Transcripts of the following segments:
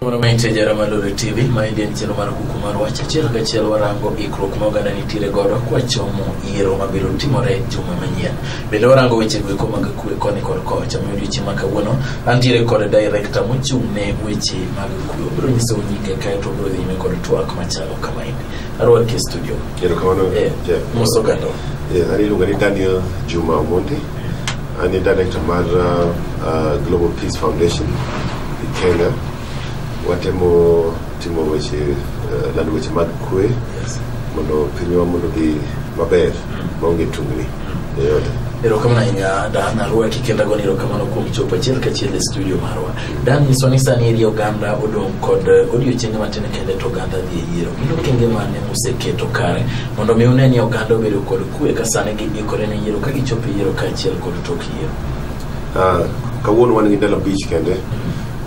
Mondo ma intie jara mar Lore TV, ma idhi en chenro mar kuku mar wach achiel kachiel warango ikruok ma oganda nitiere godo kwachomo yiero mabiro timore juma manyien. Bende warango weche goeko mag kwe koni kod kocha ma odiochieng' ma kawuono Antiere kod director mochung' ne weche mag kuyo. Obiro nyiso nyinge kae to obiro dhi nyime kod twak machalo kama endi. Arwaki e studio. Kero kamano. Eh, Jeff. mos ogando. Yes, an iluonga ni Daniel Juma Omondi. An e director mar uh, uh, Global Peace Foundation e Kenya. Watemo timo weche, uh, lando weche mag kwe Yes. mondo pinywa mondo odhi maber maonge tungni. erokamano ahinya dan arwaki kendo agoni erokamano kuom chopo achiel kachiel e studio marwa dan nyiso ni sani eri oganda odong' kod eh, odiochienge matin kende to oganda dhi e yiero gin okenge mane museketo kare mondo mi une ni oganda obedo kod kue ka sani giikore ne yiero ka gichopo e yiero kaachiel kod tok yiero Ah, kawuono wan gi ndalo abich kende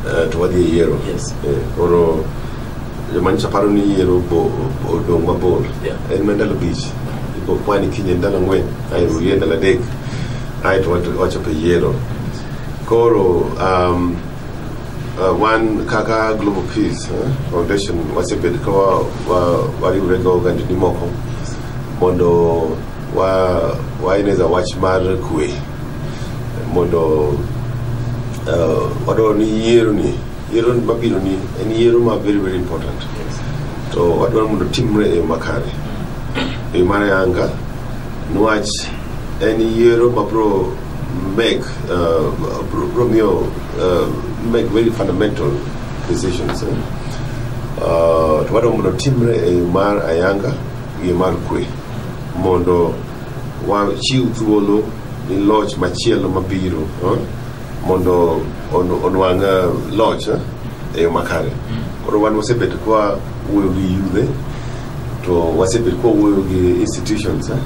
eh, to wadhi e yiero Yes. Eh, koro joma nyiso paro ni yiero bo- odong' mabor Yeah. en ma ndalo bich ibo kwani kinye ndalo ang'wen ae rulie ndalo adek ae to wato- wachopo e yiero koro um, uh, wan kaka global peace eh, foundation wasebed ka wa- wa- wariwre gi ogandni moko mondo wa- waeneza wach mar kwe mondo uh, wadwaro ni yiero ni yiero mabiro ni en yiero ma very very important to wadwaro mondo timre e yo makare e yo mar yanga niwach en yiero ma bro make uh, bro, bro miyo uh, make very fundamental decisions eh? uh, to wadwaro mondo timre e yo mar ayanga gi yo mar kwe mondo wachiw thuolo ni loch machielo mabiro eh? mondo onwang' eh, loch eh, e yo makare mm. koro wan wasebet kwa wuoyo gi yudhe to wasebet kwa wuoyo gi institutions eh,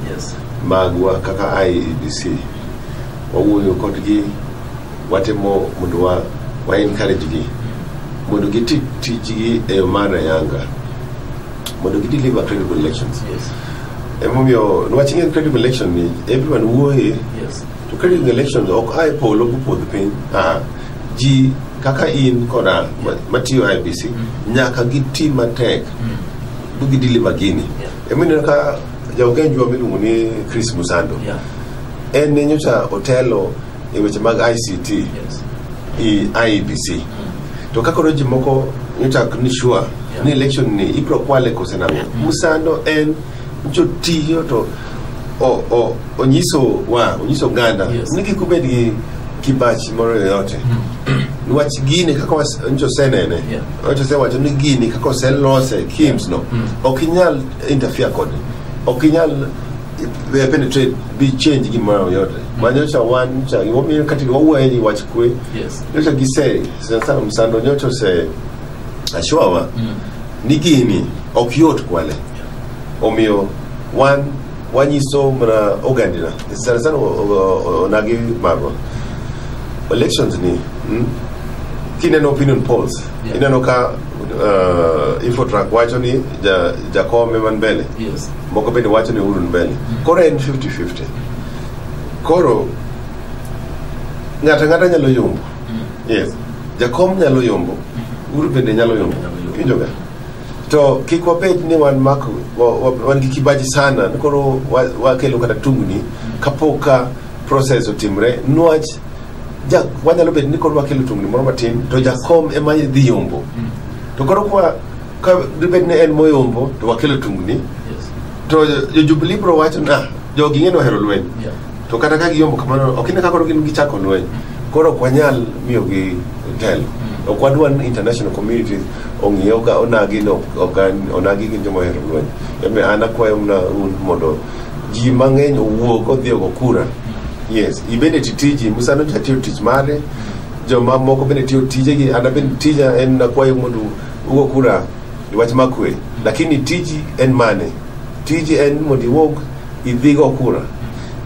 magwa kaka IEBC wawuoyo kodgi watimo mondo wa, wa encourage gi mondo giti tijgi e yo mar ayanga mondo gi deliver credible elections yes. emomiyo nwach ing'e credible election ni everyone wuoye yes. To ka in the elections ok ae polo mopodh piny ah, ji kaka in kod an ma- matiyo IBC nyaka giti matek gidili magini Yeah. emineno ka jaogenjwa miluongo ni Chris Musando Yeah. en ne nyocha otelo e weche mag ICT Yes. i IEBC to ka koro ji moko nyocha ok ni sure Yeah. ni election ni ibro kwale kose nang'o Musando en jotiyo to o- o- onyiso wa onyiso oganda Yes. ni kik ubed gi kibachi moro yoyote niwach gini kaka was- nyocha osenene Yeah. nyocha osewacho ni gini kaka oselose kims no Mm. ok inyal interfere kode ok inyal eh, penetrate bi change gimoro yoyote manyocha wan nyocha gimomiyo kati wawuoye ni wach kwe Yes. nyocha gise sana sana msando nyocha ose ashowa Mm. ni gini ok yot kwale omiyo wan wanyiso mana ogandina sana sana o- o- o- onagi marwa elections ni mm, kineno opinion polls Yeah. ineno ka uh, infotrak wacho ni ja- jakome man mbele Yes. moko bende wacho ni uhuru ni mbele koro en 50-50 koro ng'ato ang'ata nyalo yombo yes jakom nyalo yombo uhuru bende nyalo yombo Nyalo yombo. kijoga to kik wabed ni wan mak wa- wa- wan gi kibaji sana ni koro wa- wakelo kata tungni kapok ka process otimre nwach ja- wanyalo bedo ni koro wakelo tungni moro matin to jakom ema dhi yombo to koro kwa ka dibed ni en moyombo to wakelo tungni Yes. to jo- jo jubilee bro wacho na jogi ng'e ni ohero lweny Yeah. To kata ka giyombo kamano, ok ine ka koro gin gichako lweny. Koro ok wanyal miyogi telo. Ok wadwa ni international community ong'iyo ka onagi no ok an- onagi gin joma ohero lweny. Eme an akwayo mna un mondo ji mang'eny owuog odhi ogo kura. Yes, ibende ti tiji, Musa nocha tiyo tich mare, joma moko bende tiyo tijegi, an abende tija en nakwayo mondo ugo kura e wach makwe. Lakini tiji en mane? Tiji en mondo iwuog idhi go kura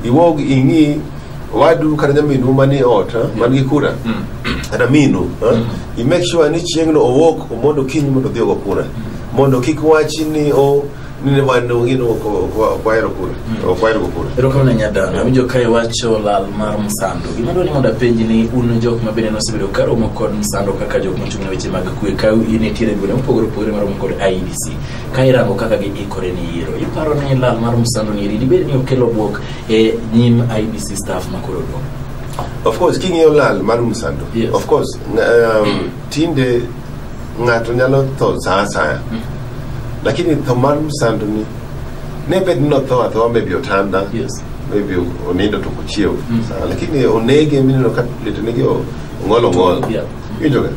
iwog ing'i wadu kata nyaminu mani ot ha, man gi kura kata minu ha, i make sure ni chieng'no owuok mondo kiny mondo odhi ogo kura mondo kik wachi ni o ni ne wan ongino kwahero kura ok wahero go kura erokamano nyadana awinjo ka iwacho lal mar msando gima dwani mondo apenji ni un jok ma bende nosebedo ka romo kod msando kaka jok mochung' ne weche mag kwe ka in itiere gwenge mopogore opogore maromo kod idc ka irango kaka giikore ni yiero iparo ni lal mar msando ni dibed ni okelo bwok e nyim ibc staff makoro dong of course king'iyo lal mar msando yes. of course um, tinde ng'ato nyalo tho saa asaya mm. lakini tho mar msando ni ne bed ni notho athoa maybe otanda yes. maybe onindo to kochiew mm. lakini onege mineno ka litonege ong'ol ong'ol yeah. Iwinjoga?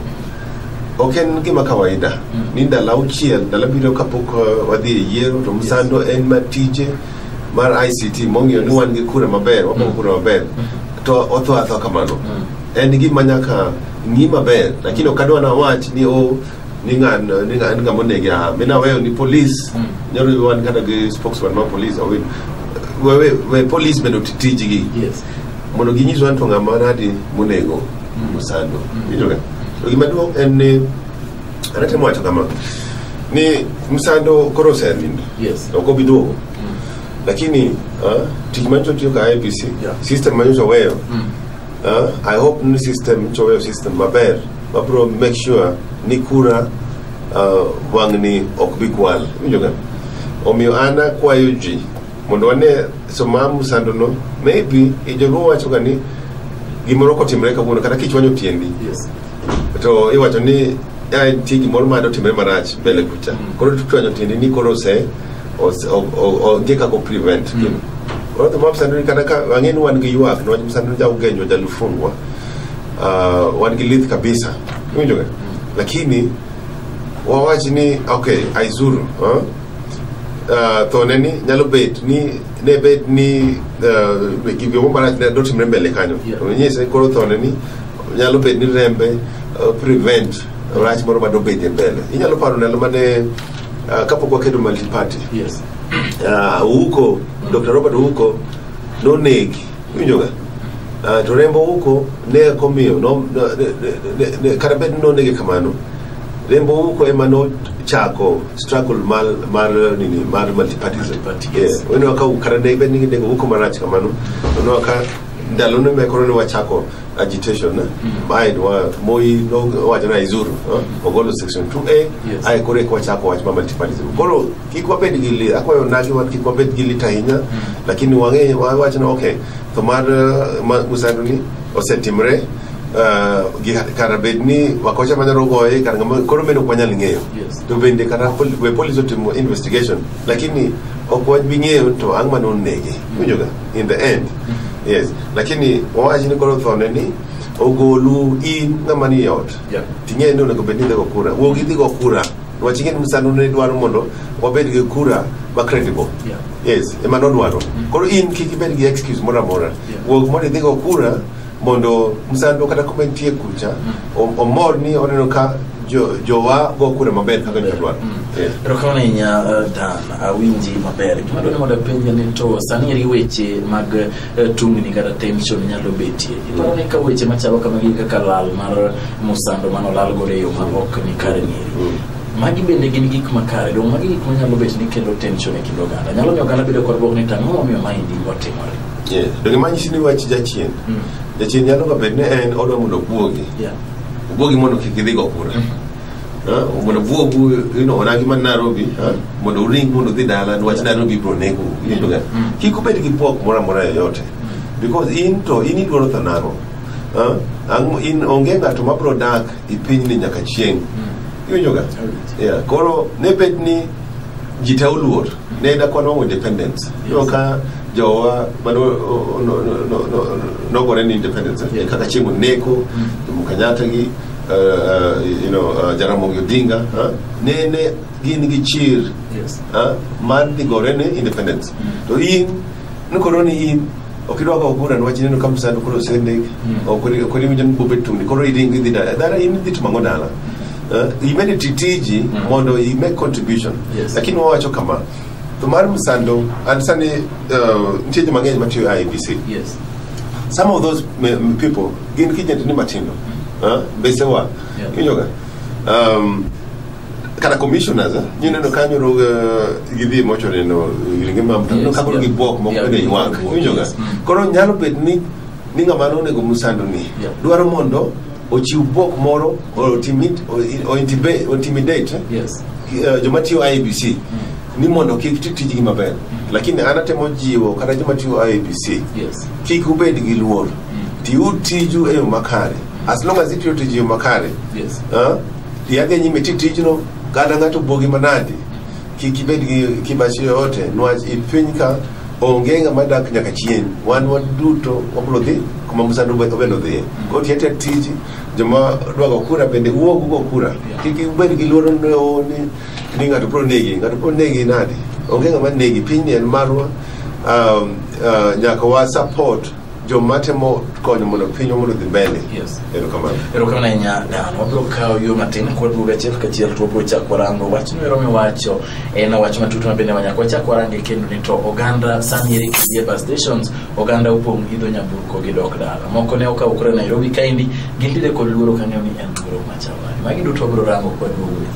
Ok en gima kawaida ni ndalo auchiel ndalo abiriyo kapok uh, wadhi e yiero to msando en ma tije mar ICT mong'iyo ni wan gi kura maber wabongo kura maber to otho atho kamano en gima nyaka ng'i maber lakini ok adwa nawach ni o ni ng'an ni ng'an ng'ama onege aha mi naweyo ni polis nyalo yudo wan kata gi spokesman mar polis awin we, we, we polis bende oti tijgi Yes. mondo ginyiswa ni to ng'ama nadi monego osando winjoga to gima duong' en ni an atemo wacho kama ni msando koro osenindo Yes. ok obi duogo lakini ah, tich manyocha otiyo ka IBC Yeah. system manyocha oweyo ah, I hope ni system nyocha oweyo system maber mabro make sure ni kura ah, wang'ni ok bi kwal winjoga omiyo an akwayo ji mondo wane soma musando no maybe e joluo wacho ga ni gimoro kotimre kawuono kata kichwanyo tiendi Yes. to iwacho ni "Ah, nitie gimoro ma dotimre marach mbele kucha koro tuchwanyo tiendi ni koro ose ose- o- o- onge kaka prevent Mm. gino koro to mapsandoni kata ka ang'e ni wan gi ywak niwach msandoni jaugenyo jalufungwa Ah, wan gi lith kabisa iwinjoga lakini wawach ni okay aizuru ah, ah, thone ni nyalo bet ni ne bet ni ah, gimbe mo marach ne dotimre mbele kanyo Yeah. to nyise koro thone ni nyalo bet ni rembe ah, prevent rach moro ma dobedie mbele inyalo paro ndalo mane ah, kapok wakedo multiparty Yes. Ah, Ouko Dr. Robert Ouko nonegi iwinjoga Ah, to rembo uko ne komiyo no- no- ne- ne- ne- ne- kata bed ni nonege kamano rembo uko ema nochako struggle mar mar nini mar multipartism Multipartism. Yes. Onwa ka kata ne bed ni ginego uko marach kamano onwa ka ndalo ne mekoro ne wachako agitation na bae wa moi no wacho na izuru eh, ogolo section 2a Yes. ae koro eka wachako wach ma multipartism koro kik wabed gi lit akwayo nagi wa kik wabed gi lit ahinya lakini wang'e wawach ni okay to mar eh, ma- musando ni osetimre eh, gi kara bed ni wakocha manyalo goye kara ngama koro meno ok wanyal ng'eyo Yes. to bende kata pol- we police otimo investigation lakini ok wabi ng'eyo to ang' mane onege winjoga in the end yes lakini wawach ni koro thone ni ogolu in ng'ama ni e ot Yeah. ting'eyo ni onego bed ni idhigo kura wuog idhigo kura Wach ing'e ni Musano ne dwaro mondo wabed gi kura ma credible. Yeah. Yes, ema nodwaro. Koro in kik ibed gi excuse moro amora. Yeah. Wuog mondo idhi go kura mondo Musando kata kuma entie kucha o- omor ni oneno ka jo- jowa go kura maber kaka ne dwaro. Yes. Erokamano ahinya eh, Dan, awinji maber. Gima dwani mondo apenje ni to sani eri weche mag eh, tungni kata tension nyalo betie iparo ni ka weche machalo kamagi kaka lal mar musando mano lal godo e yo ma ok ni kare ng'eri mm. magi bende gin gik makare dong magi gik manyalo bet ni kelo tension e kind oganda nyalo miyo oganda bedo kod bwok ni tang'o momiyo maendi otimore donge manyisi ni wach jachien mm. jachien nyalo ka bed ni en odwa mondo obwogi obwogi mondo kik idhigo kura mm. Ah, mondo buogu you know, onagi man Nairobi ah, mondo uring mondo udhi dala niwach Nairobi biro nego winjoga Mm. kik ubed gi pok moro amora yoyote because in to in idwaro tho nang'o Ah, ang' in onge ng'ato ma biro dak e pinyni nyaka chieng' iwinjoga yeah. koro ne bet ni ji te oluor ne da kwan wang'o independence yo ka jowa mane o- o- no- no- no- no- nogore ni independence eh, Yes. kaka chieng' oneko jomo kenyatta gi you know, uh, Jaramogi Odinga huh? ne ne gin gi chir Yes. huh? mar dhi gore ne independence to in ni koro ni in ok idwa kawo kura niwach ineno ka msando koro osendik Mm. ok ori- ok oriwinjo ni bobet tungni koro iringo idhi dala dala in idhi timo ang'o dala Huh? imedo ti tiji Mm. mondo i make contribution Yes. lakini wawacho kama to mar msando and sani uh, nitie ji mang'eny matiyo IBC Yes. some of those m- people gin kijendni matindo huh? besewa Yeah. inyoga um, kata commissioners eh, nyi neno kanyo ro uh, gidhi mocho neno ringe ma mtu Yes, kagolo yeah. gi bwok moko Yeah, bende gi ywak bwok, inyoga yes. Mm. koro nyalo bet ni ni ng'ama nonego musando ni Yeah. dwaro mondo ochiw bwok moro or intimid- or- or intibe- or intimidate eh, Yes. uh, joma tiyo IBC ni mondo kik ti tijgi maber lakini an atemo jiwo kata joma tiyo IABC Yes. kik ubed gi luor tiyu tiju e yo makare as long as itiyo tiji e yo makare Yes. ah, yadhi nyime ti tijno kata ng'ato buogi manadi kik ibed gi kibachi yoyote nwach i piny ka onge ng'ama dak nyaka chien wan waduto wabiro dhi kuma musando obed odhiye koro ti atia tiji joma dwago kura bende wuog ugo kura kik ibed gi luoro ni "Oh, ni ni ng'ato bro negi ng'ato bro negi nadi onge ng'ama negi pinyni en marwa um, uh, nyaka wa support joma temo konyo mondo pinywa mondo dhi mbele Yes. erokamano erokamano ahinya dan wabiro kawo yo matin kwaduogo achiel kachiel to wabiro chako warango wachno ero miwacho en wach matut ma bende wanyaka wachak warange kendo ni to oganda sani eri kidie bus stations oganda opong' idho nyamburko gi dok dala moko ne okawo kura nairobi kaendi gintiere kod luoro kang'eyo ni en luoro machalani magi duto wabiro rango kwaduogo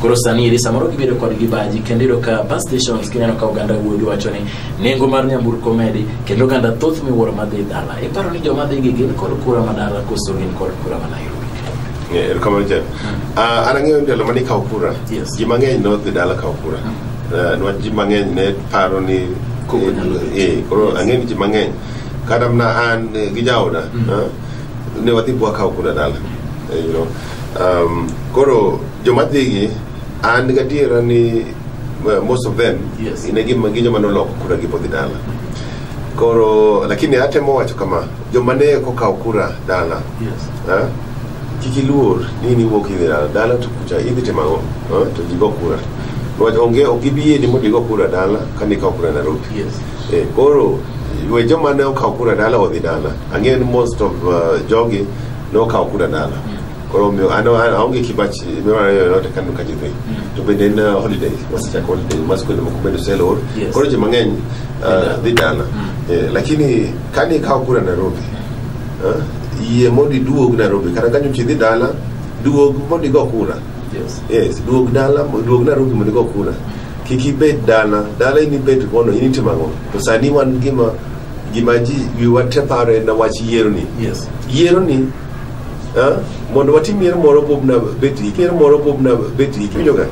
koro sani eri samoro gibedo kod gibaji kendo iyudo ka bus stations kineno ka oganda wuogi wacho ni nengo mar nyamburko medi kendo oganda thoth miwuoro madhi dala iparo ni joma dhi gi gin kod kura ma dala koso gin kod kura ma nairobi Eh, erokamano jan Ah, an ang'eyo ndalo mane ikawo kura Yes. ji mang'eny nodhi dala kawo kura Eh, niwach ji mang'eny ne paro ni Koko nyalo dhi. eh, koro Yes. ang'e ni ji mang'eny kata mana an eh, gi jaoda ah, ne wadhi bwakawo kura dala Eh, you know. Um, koro joma dhigi an gadiera ni uh, most of them Yes. ne gin gi joma noloko kura gi podhi dala koro lakini atemo wacho kama joma ne kokawo kura dala Yes. eh, kik iluor ni niwuok idhi dala dala to kucha idhi timo ang'o eh, to jigo kura Niwach onge ok ibi yieni mondo igo kura dala ka nikawo kura Nairobi Yes. Eh, koro we joma ne okawo kura dala odhi dala ang'eyo ni most of uh, jogi ne okawo kura dala koro omiyo an an- aonge kibach mimara yo yote kano ka jidhi to bende en uh, holiday wasechako holiday ma skunde moko bende oselor Yes. koro ji mang'eny uh, dhi dala Eh, lakini kane ikawo kura nairobi eh, yie mondo iduog nairobi kata kanyo chi dhi dala duog mondo igo kura Yes. yes duog dala mo- duog nairobi mondo igo kura kik ibed dala dala in ibed kono in itimo ang'o to sani wan gima gima ji wiwa te paro en wach yieroni Yes. yieroni mondo watim yiero moro bobna betri yiero moro bobna betri kiwinjoga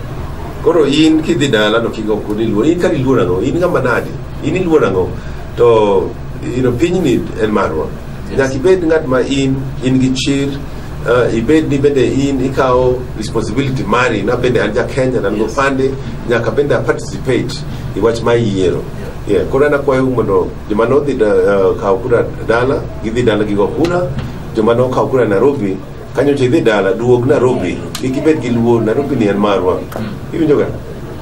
koro in kidhi dala to kigo ok niluor in kar iluor ang'o in ng'ama nadi in iluor ang'o to you know, pinyni en marwa nyaka ibed ng'at ma in in gi chir uh, ibed ni bende in ikawo responsibility mari na bende an ja kenya na nopande nyaka bende a participate i wach ma iyiero yeah. koro an akwayo mondo joma nodhi da- eh, kawo kura dala gidhi dala gigo kura joma nokawo kura nairobi kanyocha idhi dala duog nairobi kik ibed gi luo nairobi ni en marwa iwinjoga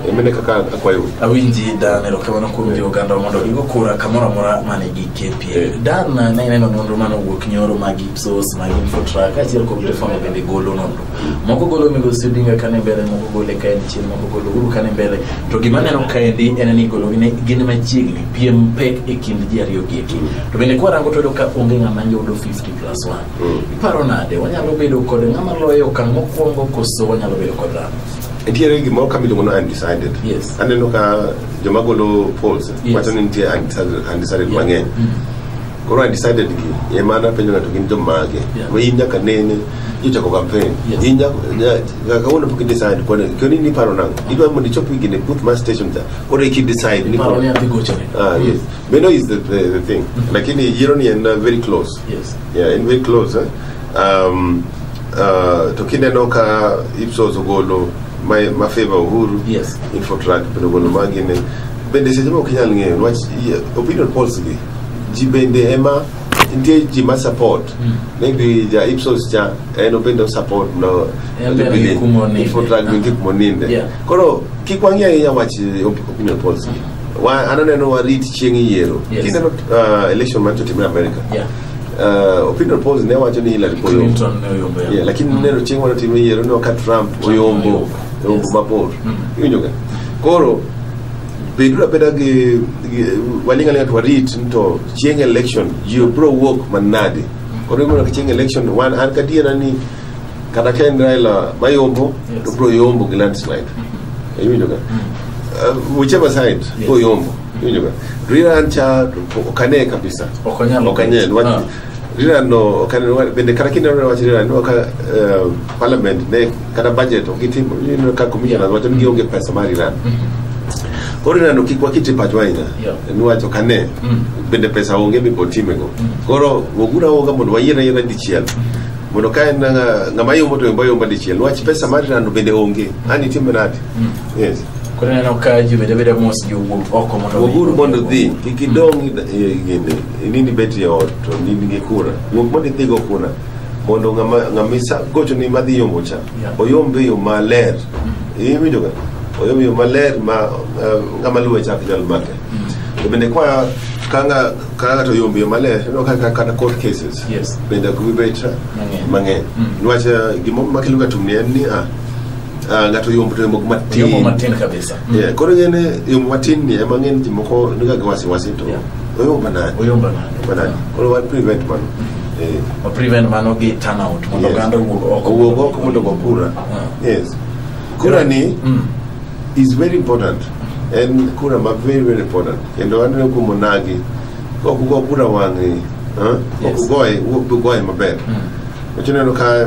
emene kaka akwayo awinji dan erokamano kuom jo oganda mondo igo kura kamoro amora mane gi kpa dan ne ineno nonro mane owuok nyoro mag ipsos mag infotrak achiel kuom telefono bende golo nonro moko golo migosi dinga kane mbele moko gole kaen chien moko golo uru kane mbele to gima neno kaendi en ni golo gine gin machiegni piem pek e kind ji ariyo gi eki to bende kwarango to ka onge ng'ama yudo 50 plus 1 mm. iparo nade wanyalo bedo kod ng'ama loyo okang' mokwongo koso wanyalo bedo kod dhano nitiere gimoro ka miluongo ni undecided yes. aneno ka joma golo polls yes. wacho ni nitie undecided, undecided yeah. mang'eny mm. koro I decided gi ema napenjo ng'ato gin jomage Yeah. ma in nyaka nene ichako campaign Yes. in nyaka nya- nyaka kawuono pok idecide koni koni ni paro nang'o idwa mondo ichop gini e booth mar station cha koro iki decide ni Paro ni adhi gochone. ah yes meno is the, the, the thing lakini yiero ni en uh, very close Yes. yeah en very close eh? um, uh, to kineno ka Ipsos ogolo ma, ma favor Uhuru Yes. Infotrak bende ogolo magine bende seche ma ok inyal ng'eyo niwach yeah, opinion polls gi ji bende ema nitie ji ma support Mm. maybe ja ipsos cha en obende osupport no En be ni kuma oninde. infotrack ni kuma oninde Yeah. koro kik wang'i ahinya wach eh, op- opinion polls gi Wa- an aneno warit chieng' yiero Yes. kineno uh, election man to timre america Yeah. uh, opinion polls ne wacho ni Hillary Clinton Clinton ne oyombo yamo. yeah, lakini neno chieng' wana timre yiero no ka trump oyombo oyombo oyombo Yes. mabor Mm. iwinjoga koro beduru abeda gi gi- waling' alinga to warit ni to chieng' election ji biro wuok manade koro igono ka chieng' election wan an kadiera ni kata ka en Raila mayombo to biro yombo gi landslide iwinjo ka Uh, whichever side biro yombo iwinjo ka Rira an cha to ok ane kabisa Ok anyal. ok ane Ah. rirano bende kata kinde mane wach rirano ineno ka eh, parliament ne kata budget ok itimo ineno ka commissioners wacho ni gionge pesa mar iran mm-hmm. koro rirano kik wakiti pachwa ahinya niwacho ka ne mm. bende pesa onge mibiro timego mm. koro wogura woga mondo wayier ayiera dichiel mm. mondo ka en eh, ng'ama yombo to yombo ayomba dichiel niwach pesa mar rirano bende onge an itime nade yes koro neno ka ji bende bedo mos jowuog oko mondo woguru mondo dhi kik idong' gini Inini bet e ot to in gi kura. Wuok mondo idhi go kura mondo ng'ama ng'ama isa gocho ni madhi yombo cha. Yeah. Oyom be yo maler. Iwinjo ga? Oyom yo maler ma eh, ng'ama luwe cha ok nyal make. To bende kwa kanga kanga to yombo yo maler no kaka kata court cases. Yes. Bende ok bibet Mang'eny. mang'eny. Mm. Niwach eh, gima makelo ga tungni en ni ah Ah, ng'ato yombo to yombo matin Yombo matin kabisa. Mm. Yeah, koro ng'ene yombo matin ni ema ng'eny ji moko niga gi wasiwasi to Yeah. oyombo manade Oyombo nade? Oyombo manade koro wa prevent mano Eh, Wa prevent mano gi turnout mondo yes. oganda owuog oko. owuog oko mondo go kura Ah. yes kura ni Mm. is very important en kura ma very very important kendo aneno kuom onagi kok ugo kura wang'i ah, kok Yes. ugoye wuok ugoye maber Mm. wachineno ka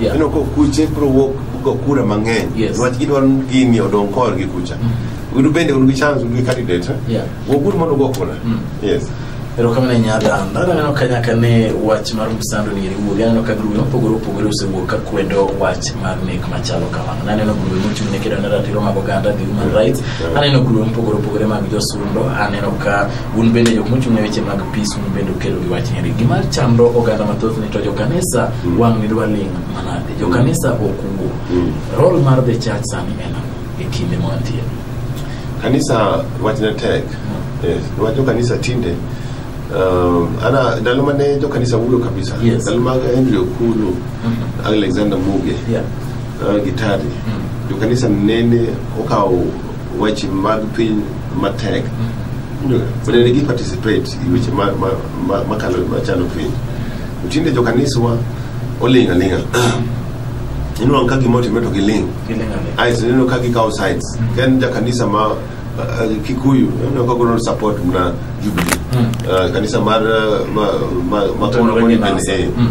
Yeah. Ineno ko kuche biro wuok go kura mang'eny Yes. niwach gidwaro ni gini odong korgi kucha un bende un gi chance un gi candidate eh? Yeah. wuoguru mondo ugo kura yes erokamano ahinya dan dan aneno ka nyaka ne wach mar msando ni riwuoge aneno ka grube mopogore opogore osewuok ka kwedo wach mar nek machalo kamano naneno grube mochung' ne kedo ne ratiro mag oganda the human rights aneno grube mopogore opogore mag josundo aneno ka un bende jok mochung' ne weche mag peace un bende ukedo gi wach nyeri gima chando oganda mathoth ni to jokanisa wang' ni dwa ling' manade jo kanisa ok wuo Mm. rol mar the church sani en ang'o e kinde ma wantie kanisa wachne tek Yes, wach jokanisa tinde um, ana ndalo mane jokanisa wulo kabisa Yes. ndalo mag henry okulu Mhm. alexander muge Yeah. uh, gitari Mm. jokanisa nene okawo weche mag piny matek Mm. Ndio, nene gi participate i weche ma- ma- ma- makalo machalo piny To tinde jokaniswa oling' aling'a ineno ka gima otimre to giling' ae to ineno ka gikawo sides ka en jakanisa ma uh, kikuyu ineno ka golo support na jubilee uh, kanisa mar uh, ma, ma, ma Mtoni kono wenye koni bende, nasa. eh. Mm.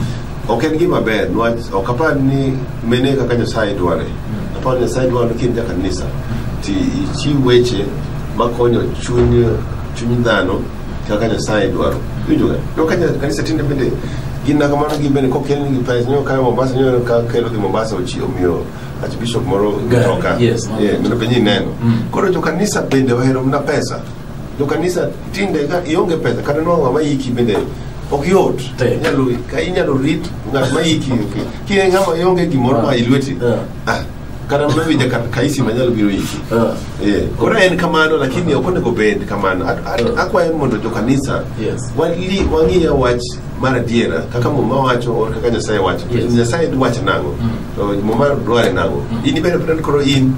ok en gima ber niwach ok apar ni mene kaka nyasaye dware apar ni nyasaye dwaro ni kind jakanisa ti ichiw weche makonyo chuny chuny dhano kaka nyasaye dwaro winjoga to ka nya- kanisa tinde bende gin na kamano gin bende kokelnigi pes nyo kayo mombasa nyo ka kelogi mombasa ochi omiyo archbishop moro Gari, mtoka yes, mano. Yeah, mondo penyi ineno Mm. koro jokanisa bende ohero mna pesa jokanisa tinde ka ionge pesa kata nwa ng'ama yiki bende ok yot Tek. Inyalo- ka inyalo rit ng'at ma yiki ok- ki ng'ama ionge gimoro ma ilweti Yeah. ah kata mana winja ka ka isi manyalo biro iki Ah, Eh, koro en kamano lakini ok onego bed kamano At- at- Ah. akwayo mondo jokanisa Yes. wali- wang'iya wach mar adiera kaka muma wacho or kaka nyasaye wacho Yes. nyasaye dwach nang'o Mm. to muma dware nang'o Mm. in ibed apena ni koro in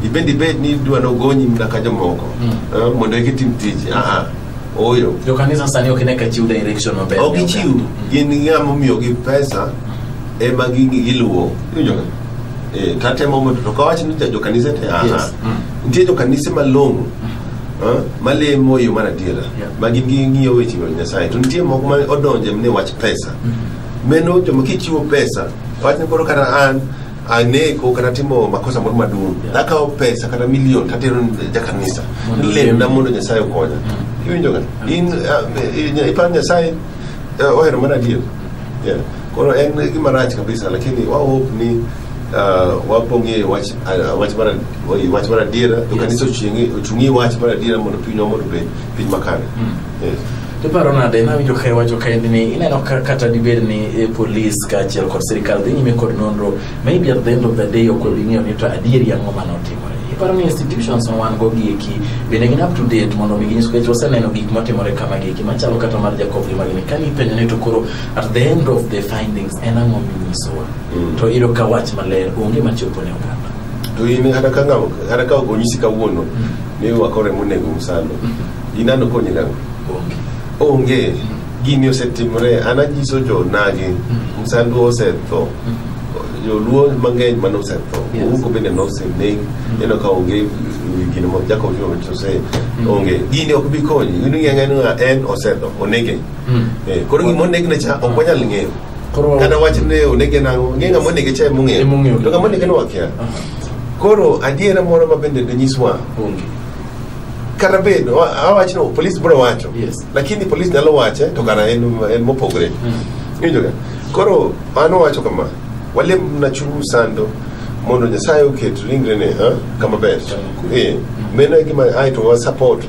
ibed ibed ni idwa nogonyi mna ka jomoko Mm. eh, mondo eki tim tich aa oyo jokanisa sani ok ine ka chiw direction maber ok ichiw gin ng'a momiyogi pesa ema gi- giluwo Iwinjo ka? eh, tatemo mondo to kawacho ni jokanise te aha Yes. Mm. nitie jokanise malong'o ah, malemo e yo mar adiera Yeah. ma gin gi ng'iyo weche mag nyasaye to nitie moko ma odonje ne wach pesa meno joma kichiwo pesa wach ni koro kata an aneko kata timo makosa moro maduong' Yeah. nakawo pesa kata milion tatero ni jakanisa Mondo lemna mondo nyasaye okonya iwinjoga in ah, eh, iparo nyasaye eh, ohero mana adier Yeah. Koro en gima rach kabisa, lakini wao hope ni uh, wapong'e wach uh, wach mar oi, wach mar adiera to Yes. kanisa ochungi ochungi wach mar adiera mondo pinywa mondo obed piny makare. Mm. Yes. Tiparo nade nawinjo ka iwacho kaendi ni ineno ka kata dibed ni eh, polis kaachiel kod sirikal dhi nyime kod nonro maybe at the end of the day ok obi ng'eyo ni to adieri ang'o mane otimore iparo ni institutions ma wan go gi eki bende gin up to date mondo mi ginyis kech waseneno gik motimore kama gi eki machalo kata mar jakob gi magini kani ipenjo ni to koro at the end of the findings en ang'o minyisowa Mm. to iyudo ka wach maler onge machopo ne oganda to in kata ka ng'awo kata ka ok onyisi kawuono ni wakore monego msalo inano konye nang'o onge onge gini osetimore an anyiso jonagi msandu osetho joluo mang'eny mane osetho Yes. ouko bende noseneg ineno ka onge eh, gino ma jakob ose onge gini ok bi konyi in ing'eyo ni en osetho onege Eh, koro gima onegne cha ok wanyal ng'eyo Koro- kata wach ne onege nang'o ng'e ng'ama onege cha emong'eyo Emong'eyo. to ng'ama onege ne wakia koro adiera moro ma bende ne nyiswa Onge. kata bed wa- awach no polis biro wacho Yes. lakini polis nyalo wache to kara en en mopogore Iwinjoga? koro an owacho kama walem na chuny sando mondo nyasaye oket ringrene ha, kama ber Kama kwe. Eh, meno e gima ae to wa support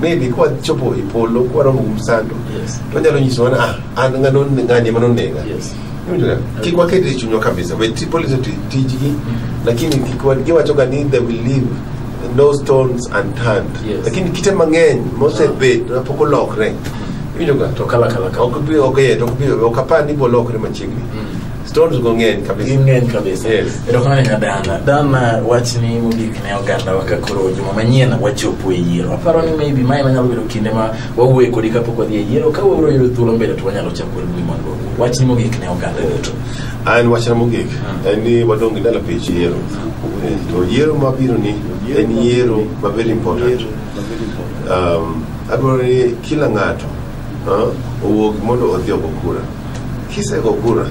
maybe kwa chopo e polo kwa romo gi msando Yes. to nyalo nyiso ni ah an ngano ngani mano nega Yes. Unajua, kik waket e chunywa kabisa we ti- police oti tijgi lakini kik wa- giwachoga ni they will leave no stones unturned Yes. lakini kite mang'eny mosebet mapok olokre Iwinjoga? To kala kala kala. Ok bi- ok yet, ok bi- ok apar ni bolokre machiegni Mm. Stones go ng'eny kabisa. Ging'eny kabisa. Yes. Erokamano nya Dana. Dana wachni mogik ne oganda wa ka koro juma manyien wachopo e yiero. Aparo ni maybe mae manyalo bedo kinde ma wawuoye kodi kapok wadhi e yiero ka wabiro yudo thuolo mbele to wanyalo chako ni mondo wawuo. Wachni mogik ne oganda duto. An wachna mogik en ni wadong' gi ndalo pich yiero. Eh, To yiero mabiro ni en yiero ma very important. Um, adwaro ni kila ng'ato ah, owuog mondo odhi ogo kura. Kisego kura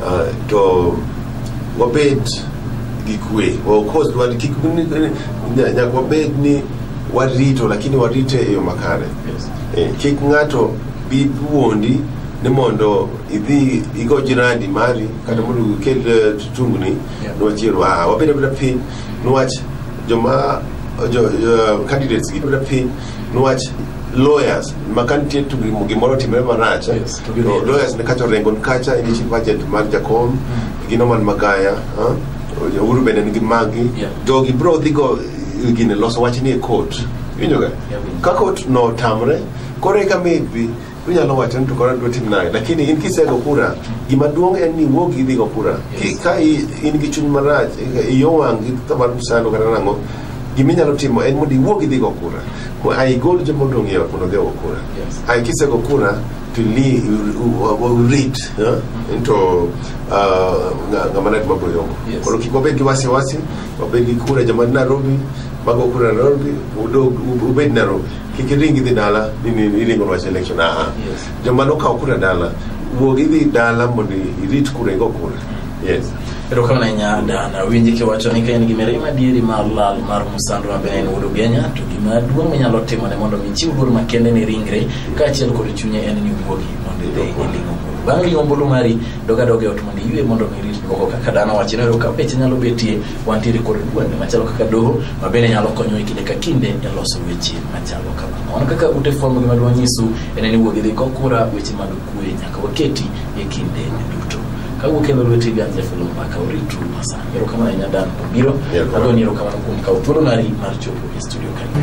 uh, to wabed gi kwe waokos wal- kik ni- ni- nya- nyaka wabed ni warito lakini warite e yo makare Yes. Eh, kik ng'ato bi wuondi ni mondo idhi igo jirandi mari kata mondo ikel eh, tungni Yeah. niwachielo ah, wabed abeda piny niwach joma jo, jo, candidates gi abeda piny Nwach lawyers maka nitie tu gimo- gimoro timre marach eh, Yes, to be to real. lawyers ne kacha orengo ni kacha en chief agent mar jakom gi Norman Magaya ah, Uhuru bende nigi magi Yeah. jogi bro dhi go eh, gine loso wachni e court winjoga Yeah, winjo. ka court notamre koro eka maybe Unyalo wacho ni to koro adwa tim nade, lakini in kisego kura, gima duong' en ni wuog idhi go kura. Ki- Ka i- in gi chuny marach, i- iyo wang' gi ka mar msando kata nang'o, gima inyalo timo en mondo iwuog idhi go kura. Mo- Ai gol joma odong' e ot mondo odhi ogo kura. Yes. Ai kisego kura to li read eh, into uh, nga- ng'ama nat mabro yongo. Yes. Koro kik wabed gi wasiwasi, wabed gi kura joma ni Nairobi, mago kura Nairobi, udog- ubed Nairobi. kik iring idhi dala ni ni- ni iringo wach election aa Yes. joma nokawo kura dala wuog idhi dala mondo irit kura igo kura yes erokamano ahinya dan awinji kiwacho ni ka in gi mirima dieri mar lal mar musando ma bende en wuod ogenya to gima duong' minyalo timone mondo mi chiw luor makende ne ringre kaachiel kod chunye en ni wuogi mondo idhi iling'o ombulu bang' ling'o ombulu mari dogadoga e ot mondo iywe mondo mi irit duoko kaka dan owacho ni ka peche nyalo betie Wantiere kod duonde machalo kaka doho ma bende nyalo konyo e kinde ka kinde e loso weche machalo kamano. Mano kaka ute fwambo gima dwa nyisu en ni wuog idhi kokura weche mag kuwe nyaka waketi e kinde duto. Ka wuok e lweti gan jafelo mbaka uritu masani. Erokamano ahinya Dan Obiro. Erokamano. Agoni erokamano kuom kawo thuolo mari mar chopo e studio kanyo.